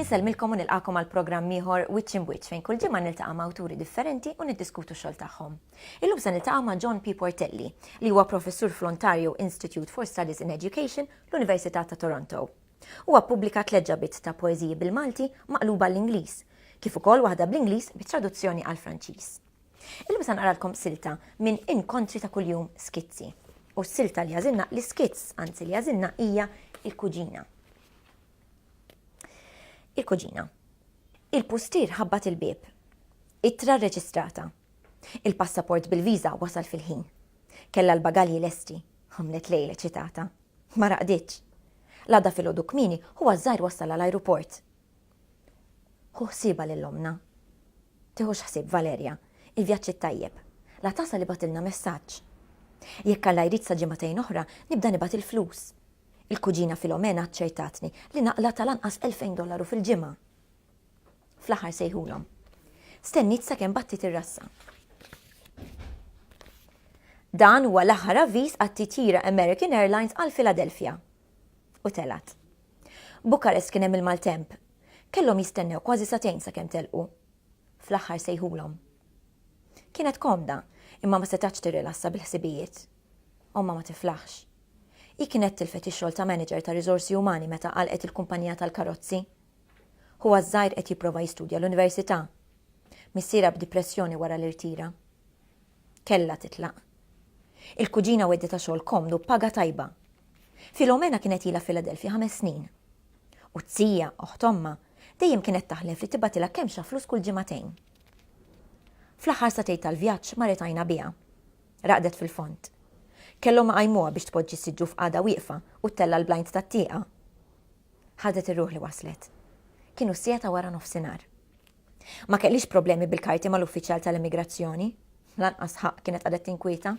Insellmilkom u nilqakom għal programm ieħor Wiċċ in Wiċċ fejn kull ġimgħa niltaqa' ma' awturi differenti u niddiskutu xogħol tagħhom. Illum se niltaqa' ma' John P. Portelli, li huwa professur fl-Ontario Institute for Studies in Education, l-Università ta' Toronto. Huwa ppubblika tliet ġabiet ta' poeżiji bil-Malti maqluba għall-Ingliż, kif ukoll waħda bl-Ingliż bi traduzzjoni għall-Franċiż. Illum se nqaralkom silta minn Inkontri ta' Kuljum, Skizzi. U s-silta li għażilna, l-iskizz, anzi, li għażilna hija Il-Kuġina. Il-Kuġina. Il-pustier ħabbat il-bieb. Ittra rreġistrata. Il-passaport bil-viża wasal fil-ħin. Kellha l-bagalji lesti. Għamlet lejl eċitata. Ma raqditx. L-għada filgħodu kmieni, ħuha ż-żgħir wassala l-ajruport. Ħu ħsiebha lil ommna. Tiħux ħsieb, Valerja. Il-vjaġġ it-tajjeb. La tasal ibagħtilna messaġġ. Jekk Alla jrid sa ġimagħtejn oħra nibda nibgħat il-flus. Il-kuġina Filomena aċċertatni li naqla' tal-anqas elfejn dollaru fil-ġimgħa. Fl-aħħar sejħulhom. Stenniet sakemm battiet ir-rassa. Dan huwa l-aħħar avviż għat-titjira American Airlines għal Philadelphia. U telgħet. Bukarest kien hemm il-maltemp. Kellhom jistennew kważi satejn sakemm telqu. Fl-aħħar sejħulhom. Kienet komda, imma ma setax tirrilassa bil-ħsibijiet. Omma ma tiflaħx. Hi kienet tilfet ix-xogħol ta' manager ta' riżorsi umani meta qalqet il-kumpanija tal-karozzi. Ħuha ż-żgħir qed jipprova jistudja l-università. Missierha b'dipressjoni wara li rtira. Kellha titlaq. Il-kuġina wedditha xogħol komdu b'paga tajba. Filomena kienet ilha f'Filadelfja ħames snin. U t-tija, oħt ommha, dejjem kienet taħlef li tibgħatilha kemmxa flus kull ġimagħtejn. Fl-aħħar sagħtejn tal-vjaġġ marret għajnha biha. Raqdet fil-fond. Kellhom iqajmuha biex tpoġġi s-siġġu f'qagħda wieqfa u ttella' l-blind tat-tieqa. Ħadet ir-ruħ li waslet. Kienu s-siegħa ta' wara nofsinhar. Ma kellhiex problemi bil-karti mal-uffiċjal tal-immigrazzjoni. Lanqas ħa kienet qagħdet tinkwieta.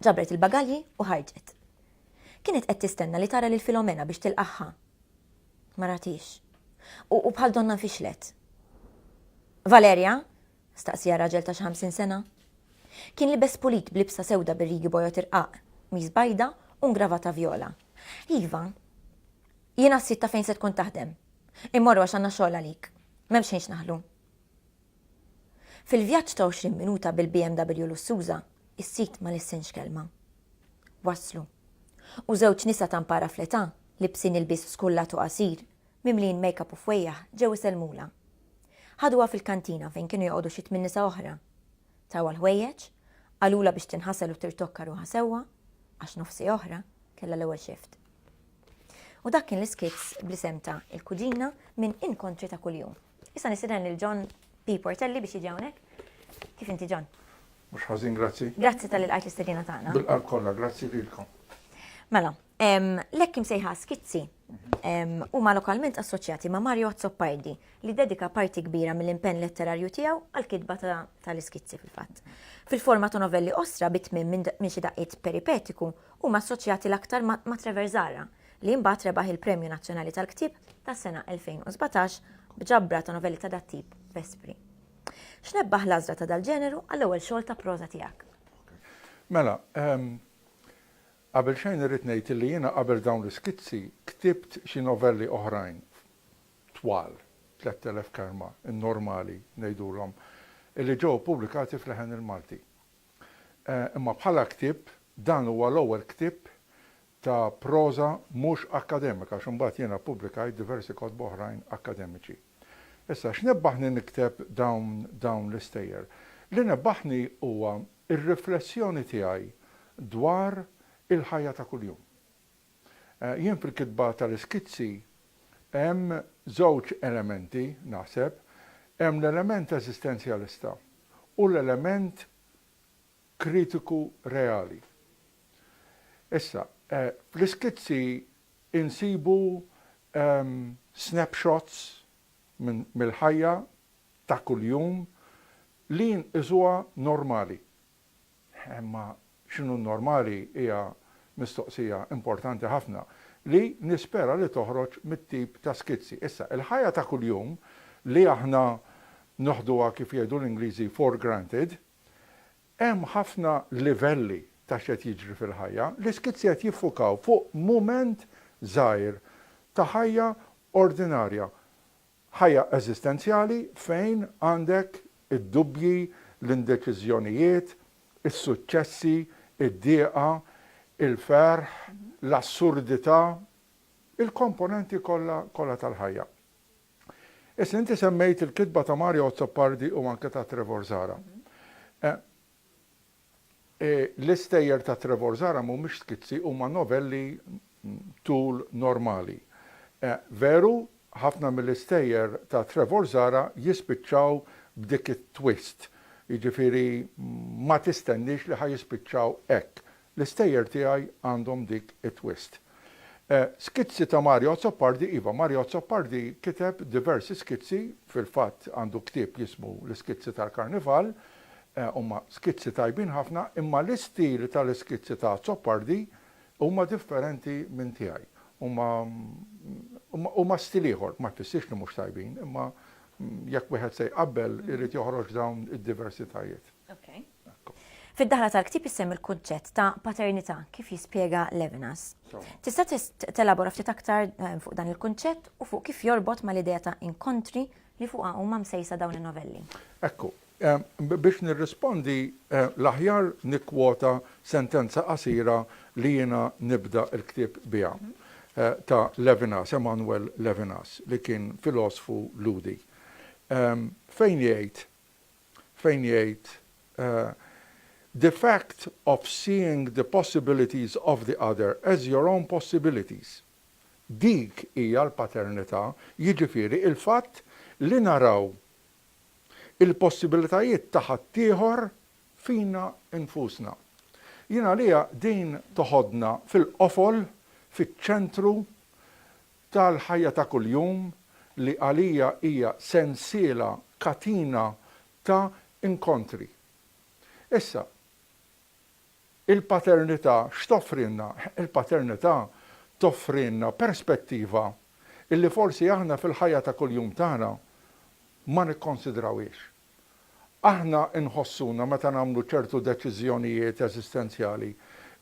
Ġabret il-bagalji u ħarġet. Kienet qed tistenna li tara lil Filomena biex tilqagħha. Ma ratix. U bħal donna nfixlet. Valerja! staqsieha raġel ta' xi ħamsin sena. Kien libes pulit b'libsa sewda bir-rigi bojod irqaq, qmis bajda u ngravata vjola. Iva. Jiena s-sid ta' fejn se tkun taħdem. Immorru għax għandna xogħol għalik. M'hemmx xejn x'naħlu. Fil-vjaġġ ta' għoxrin minuta bil-BMW lussuża, is-sid ma lissinx kelma. Waslu. U żewġ nisa ta' mpara fl-età, libsin ilbies skullat u qasir, mimlijin makeup u fwejjaħ ġew isellmulha. Ħaduha fil-kantina fejn kienu joqogħdu xi tmien nisa oħra. Tawha l-ħwejjeġ, qalulha biex tinħasel u tirtokka ruħha sewwa, għax nofsi oħra kellha l-ewwel shift. U dak kien l-iskits bl-isem ta' Il-Kuġina minn Inkontri ta' Kuljum. Issa nisidan lil John P. Portelli biex jiġi hawnhekk. Kif inti John? Mhux ħażin, grazzi. Grazzi tal-li lqajt l-istedina tagħna. Bil-qalb kollha, grazzi lilkom. Mela, L-hekk imsejħa skizzi huma lokalment assoċjati ma' Mario Azzopardi li dedika parti kbira mill-impenn letterarju tiegħu għall-kitba tal-iskizzi fil-fatt. Fil-forma ta' novelli qosra bi tmiem minn xi daqqiet peripetiku huma assoċjati l-aktar ma' Trevor Zahra li mbagħad rebaħ il-Premju Nazzjonali tal-Ktieb tas-sena 2017 b'ġabra ta' novelli ta' dat-tip Vespri. X'nebbaħ l-għażla ta' dal-ġeneru għall-ewwel xogħol ta' proża tiegħek? Mela, Qabelxejn irrid ngħid illi jiena qabel dawn l-iskizzi ktibt xi novelli oħrajn twal, tlett elef kelma, in-normali ngħidulhom, illi ġew ippubblikati f'Leħen il-Malti. Imma bħala ktieb dan huwa l-ewwel ktieb ta' proża mhux akkademika għax imbagħad jiena ppubblikajt diversi kotba oħrajn akkademiċi. Issa x'nebbaħni nikteb dawn dawn l-istejjer? Li nebbaħni huwa Ir-riflessjoni tiegħi dwar il-ħajja ta' kuljum. Jien fil-kitba tal-iskizzi hemm żewġ elementi, naħseb, hemm l-element eżistenzjalista u l-element kritiku reali. Issa, fl-iskizzi insibu snapshots mill-ħajja ta' kuljum li nqisuha normali. Imma x'inhu normali hija mistoqsija importanti ħafna li nispera li toħroġ mit-tip ta' skizzi. Issa, il-ħajja ta' kuljum li aħna noħduha kif jgħidu l-Ingliżi for granted, hemm ħafna livelli ta' x'qed jiġri fil-ħajja. L-iskizzi qed jiffukaw fuq mument żgħir ta' ħajja ordinarja Ħajja eżistenzjali fejn għandek id-dubbji, l-indeċiżjonijiet, is-suċċessi, id-dieqa, il-ferħ, l-assurdità, il-komponenti kollha kollha tal-ħajja. Issa inti semmejt il-kitba ta' Mario Azzopardi u anke ta' Trevor Zahra. L-istejjer ta' Trevor Zahra mhumiex skizzi, huma novelli tul normali. Veru, ħafna mill-istejjer ta' Trevor Zahra jispiċċaw b'dik it-twist, jiġifieri ma tistenniex li ħa jispiċċaw hekk, L-istejjer tiegħi għandhom dik it-twist. Skizzi ta' Mario Azzopardi Iva, Mario Azzopardi kiteb diversi skizzi, fil-fatt għandu ktieb jismu L-Iskizzi tal-Karnival, huma skizzi tajbin ħafna, imma l-istil tal-iskizzi ta' Azzopardi huma differenti minn tiegħi. Huma huma stil ieħor, ma jfissirx li mhux tajbin, imma jekk wieħed se jqabbel irid joħroġ dawn id-diversitajiet. Okay. Fid-daħla tal-ktieb issemmi l-kunċett ta' paternità kif jispjega Levinas. Tista' telabora ftit aktar eh, fuq dan il-kunċett u fuq kif jorbot mal-idea ta' inkontri li fuqha huma msejsa dawn in-novelli. Ekku, eh, biex nirrispondi eh, l-aħjar nikkwota sentenza qasira li jiena nibda l-ktieb biha ta' Levinas, Emanuel Levinas, li kien filosfu Lhudi. Fejn jgħid fejn jgħid, The fact of seeing the possibilities of the other as your own possibilities. Dik hija l-paternità, jiġifieri l-fatt li naraw il-possibilitajiet ta' ħaddieħor fina nfusna. Jien għalija din toħodna fil-qofol, fiċ-ċentru tal-ħajja ta' kuljum li għalija hija sensiela, katina ta' inkontri. Issa, il-paternità x'toffrilna? Il-paternità toffrilna perspettiva li forsi aħna fil-ħajja ta' kuljum tagħna ma nikkonsidrawhiex. Aħna nħossuna meta nagħmlu ċertu deċiżjonijiet eżistenzjali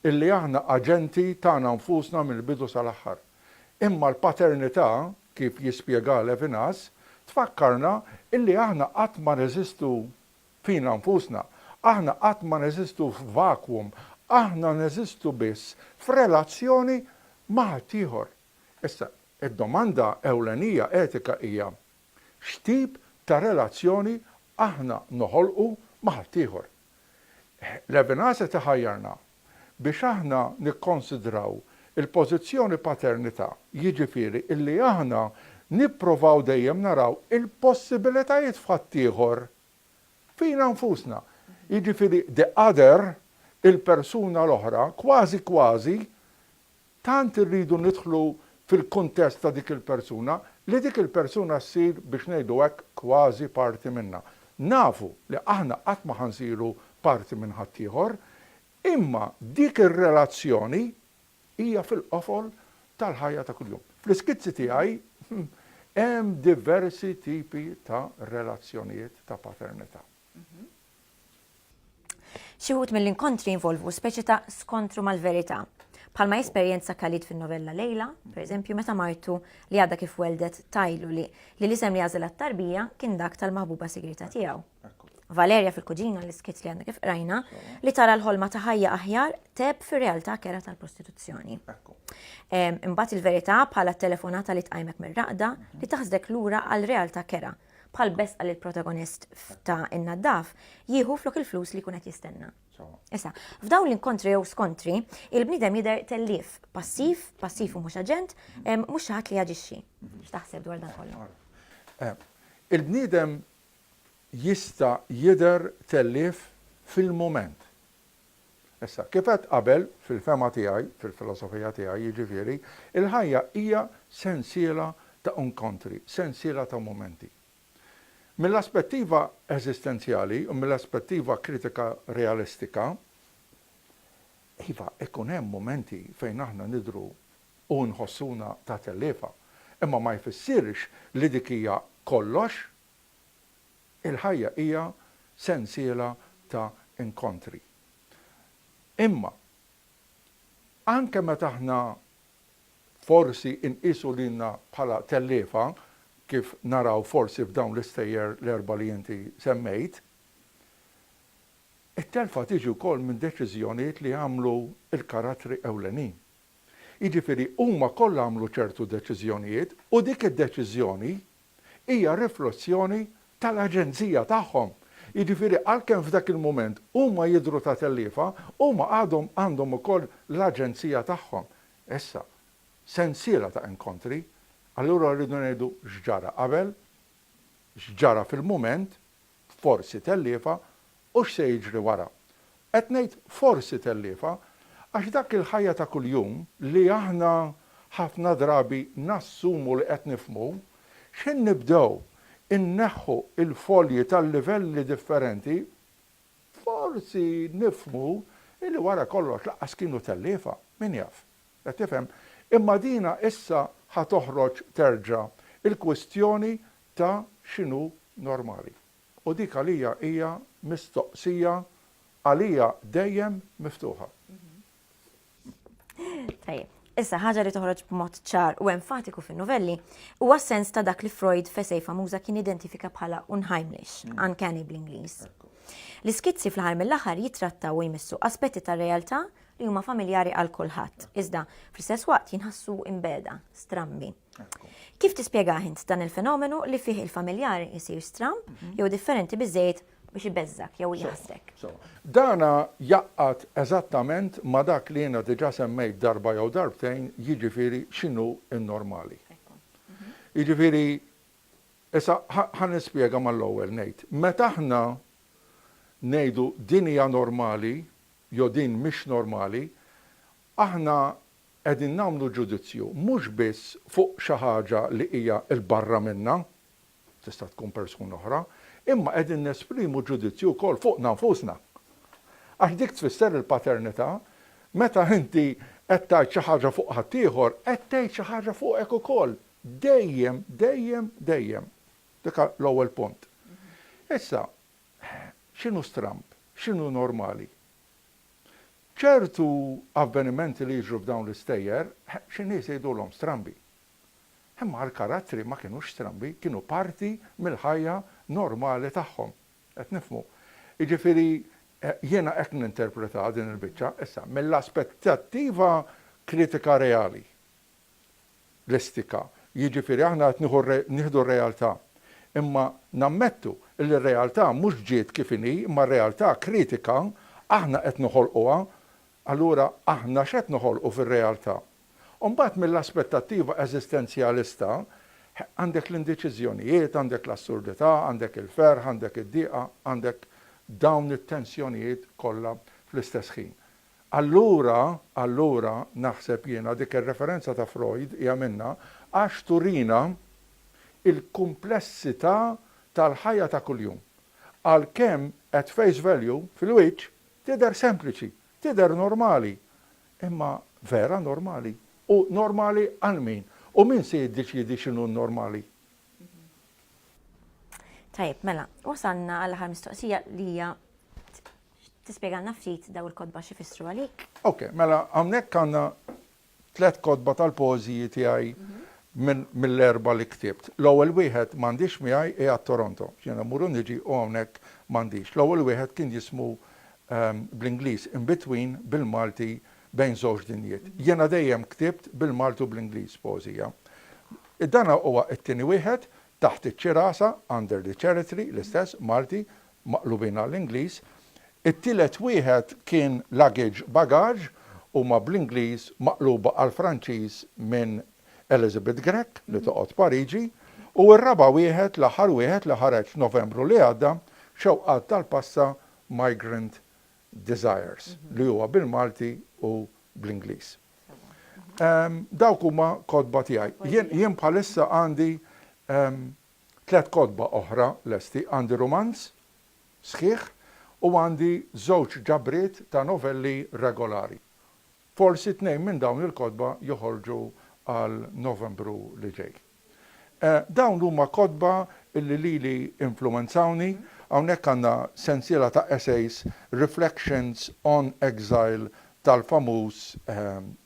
illi aħna aġenti tagħna nfusna mill-bidu sal-aħħar. Imma l-paternità, kif jispjegah Levinas, tfakkarna illi aħna qatt ma neżistu fina nfusna. Aħna qatt ma neżistu f'vacuum. Aħna neżistu biss f'relazzjoni ma' ħaddieħor. Issa, id-domanda ewlenija etika hija, X'tip ta' relazzjoni aħna noħolqu ma' ħaddieħor? Levinas qed iħajjarna biex aħna nikkonsidraw il-pożizzjoni paternità, jiġifieri li aħna nipprovaw dejjem naraw il-possibilitajiet f'ħaddieħor, fina nfusna. Jiġifieri the other, il-persuna l-oħra, kważi kważi Tant irridu nidħlu fil-kuntest ta' dik il-persuna li dik il-persuna ssir, biex ngħidu hekk, kważi parti minna. Nafu li aħna qatt ma ħa nsiru parti minn ħaddieħor, imma dik ir-relazzjoni hija fil-qofol tal-ħajja ta' kuljum. Fl-iskizzi tiegħi hemm diversi tipi ta' relazzjonijiet ta' paternità. Xi wħud mill-inkontri jinvolvu speċi ta' skontru mal-verità. Bħalma jesperjenza Khalid fin-novella Lejla, pereżempju meta martu li għadha kif weldet tajlu li li l-isem li għażel għat-tarbija kien dak tal-maħbuba sigrieta tiegħu. Valerja fil-kuġina l-iskiet li għandna kif qrajna li tara l-ħolma ta' ħajja aħjar teb fir-realtà kera tal-prostituzzjoni. Imbagħad il-verità bħala telefonata li tqajmek mir-raqda li taħsdek lura għal realtà kera bħal besqa li l-protagonist ta' in-naddaf jieħu flok il-flus li kunet jistenna. Issa, f'dawn l-inkontri jew skontri, il-bnidem jider tellif passiv, passiv u mhux aġent, mhux ħadd li jaġixxi. X'taħseb dwar dan kollu? Eh, il-bniedem jista' jider tellif fil-moment. Issa, kif għedt qabel, fil-fehma tiegħi, fil-filosofija tiegħi, jiġifieri, il-ħajja hija sensiela ta' inkontri, sensiela ta' mumenti. Mill-aspettiva eżistenzjali u mill-aspettiva kritika realistika, iva, ikun hemm mumenti fejn aħna nidhru u nħossuna ta' telliefa, imma ma jfissirx li dik hija kollox Il-ħajja hija sensiela ta' inkontri. Imma anke meta aħna forsi nqisu lilna bħala telliefa, kif naraw forsi f'dawn l-istejjer l-erbgħa li inti semmejt, it-telfa tiġi wkoll minn deċiżjonijiet li jagħmlu l-karattri ewlenin. Jiġifieri huma kollha għamlu ċertu deċiżjonijiet u dik id-deċiżjoni hija riflozzjoni tal-aġenzija tagħhom. Jiġifieri għalkemm f'dak il-mument huma jidhru ta' telliefa, huma għadhom għandhom ukoll l-aġenzija tagħhom. Issa, sensiela ta' inkontri, allura rridu ngħidu x'ġara qabel, x'ġara fil-mument, forsi telliefa, U x'se jiġri wara? Qed ngħid forsi telliefa, għax dak il-ħajja ta' kuljum li aħna ħafna drabi nassumu li qed nifhmu, x'ħin nibdew inneħħu l-folji tal-livelli differenti, forsi nifhmu li wara kollox lanqas kienu telliefa, min jaf? Qed tifhem? Imma dina issa ħa toħroġ terġa' il-kwistjoni ta' x'inhu normali. U dik għalija hija mistoqsija għalija dejjem miftuħa. Tajjeb. Issa, ħaġa li toħroġ b'mod ċar u enfatiku fin-nuvelli huwa s-sens ta' dak li Freud f'essej famuża kien identifika bħala unheimlich, uncanny bl-Ingliż. L-iskizzi fl-aħħar mill-aħħar jitrattaw u jmissu aspetti tar-realtà li huma familjari għal kulħadd, iżda fl-istess waqt jinħassu imbegħda, strambi. Kif tispjegah int dan il-fenomenu li fih il-familjar isir stramb mhm. jew differenti biżejjed biex ibeżżak jew jaħsdek. Dana jaqqat eżattament ma dak li jiena diġa semmejt darba jew darbtejn, jiġifieri x'inhu n-normali. Mhm. Jiġifieri issa ħan nispjega mal-ewwel ngħid. Meta aħna ngħidu din hija normali jew din mhix normali, Aħna qegħdin nagħmlu ġudizzju mhux biss fuq xi ħaġa li hija 'l barra minna, tista' tkun persuna oħra, imma qegħdin nesprimu ġudizzju wkoll fuqna nfusna. Għax dik tfisser il-paternità, meta inti qed tgħid xi ħaġa fuq ħaddieħor, qed tgħid xi ħaġa fuqek ukoll. Dejjem, dejjem, dejjem. Dik l-ewwel punt. Issa, x'inhu stramb? X'inhu normali? Ċertu avvenimenti li jiġru f'dawn l-istejjer, xi nies jgħidulhom strambi. Imma l-karattri ma kinux strambi, kienu parti mill-ħajja normali tagħhom. Qed nifhmu? Jiġifieri, jiena hekk ninterpretha din il-biċċa. Issa, mill-aspettattiva kritika reali. l-istika, jiġifieri aħna qed nieħu nieħdu r-realtà. Imma nammettu li r-realtà mhux ġiet kif inhi imma r-realtà kritika aħna qed noħolquha. Allura aħna x'qed noħolqu fir-realtà? U mbagħad mill-aspettattiva eżistenzjalista għandek l-indeċiżjonijiet, għandek l-assurdità, għandek il-ferħ, għandek id-diqa, għandek dawn it-tensjonijiet kollha fl-istess ħin. Allura, allura, naħseb jiena, dik ir-referenza ta' Freud hija minnha, għax turina l-kumplessità tal-ħajja ta' kuljum. Għalkemm, at face value, fil-wiċċ, tidher sempliċi, tidher normali. Imma vera normali? U normali għal min? U min se jiddeċiedi x'inhu n-normali? Tajjeb, mela, wasalna għall-aħħar mistoqsija li hija Tispjegalna ftit dawn il-kotba x'ifissru għalik? Ok, mela hawnhekk għandna tliet kotba tal-poeżiji tiegħi mill-erba' li ktibt. L-ewwel wieħed m'għandix miegħi hija t-Toronto, x'jiena mmur u niġi u hawnhekk m'għandix. L-ewwel wieħed kien jismu bl-Ingliż In Between bil-Malti Bejn Żewġ Dinjiet. Jiena dejjem ktibt bil-Malti u bl-Ingliż poeżija. Dan huwa t-tieni wieħed, Taħt iċ-Ċirasa, Under the Cherry Tree, l-istess, Malti, maqlubin għall-Ingliż, it-tielet wieħed kien luggage, bagaġ, huma bl-Ingliż maqluba għall-Franċiż minn Elizabeth Grech li toqgħod Pariġi, u r-raba' wieħed, l-aħħar wieħed li ħareġ f'Novembru li għadda, Xewqat tal-Passa, Migrant Desires, li huwa bil-Malti u bl-Ingliż. Dawk huma kotba tiegħi. Jien bħalissa għandi Tliet kotba oħra lesti, għandi rumanz sħiħ u għandi żewġ ġabriet ta' novelli regolari. Forsi tnejn minn dawn il-kotba joħorġu għal Novembru li ġej. Dawn huma kotba li lili influwenzawni, hawnhekk għandna sensiela ta' essays Reflections on Exile tal-famuż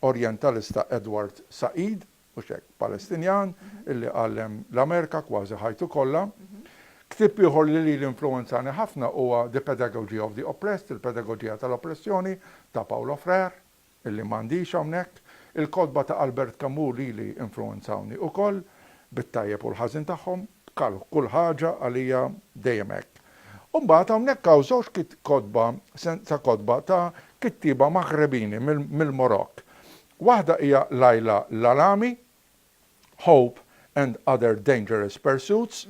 Orjentalista Edward Said, Mhux hekk? Palestinjan illi għallem l-Amerika kważi ħajtu kollha. Ktieb ieħor li lili influwenzani ħafna huwa The Pedagogy of the Oppressed, Il-Pedagoġija tal-Oppressjoni, ta' Paulo Freire, illi m'għandix hawnhekk. Il-kotba ta' Albert Camus lili influwenzawni ukoll, bit-tajjeb u l-ħażin tagħhom. Bħal kull ħaġa għalija dejjem hekk. U mbagħad hawnhekk hawn żewġ kotba, sensa kotba ta' kittieba Maghrebini mill-Marokk. Waħda hija Laila Lalami, Hope and Other Dangerous Pursuits,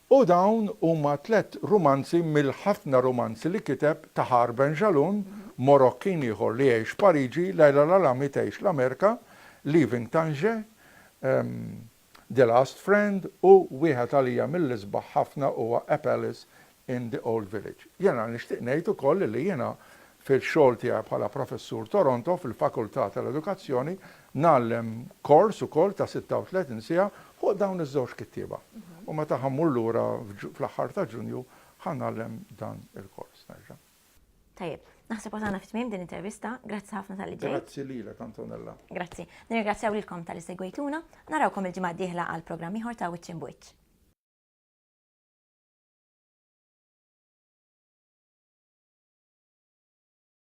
u dawn huma tliet rumanzi mill-ħafna rumanzi li kiteb Tahar Benjalloun, Morokkin ieħor li jgħix Pariġi, Laila Lalami tgħix l-Amerika, Leaving Tanger, The Last Friend u wieħed għalija mill-isbaħ ħafna huwa A Palace in the Old Village. Jiena nixtieq ngħid ukoll li jiena fil-xogħol tiegħi bħala professur Toronto fil-Fakultà tal-Edukazzjoni ngħallem kors ukoll ta' 36 siegħa fuq dawn iż-żewġ kittieba. U meta ħa mmur lura fl-aħħar ta' Ġunju ħa ngħallem dan il-kors nerġa'. Tajjeb, naħseb għazana fit-tmim din intervista, grazzi ħafna tal-li ġej. Grazzi li l Antonella. Grazzi. Nirgrazzjaw lilkom tal-li segwejtuna, narawkom il-ġimgħa diħla għal programm ieħor ta' Wiċċ Bwiċċ.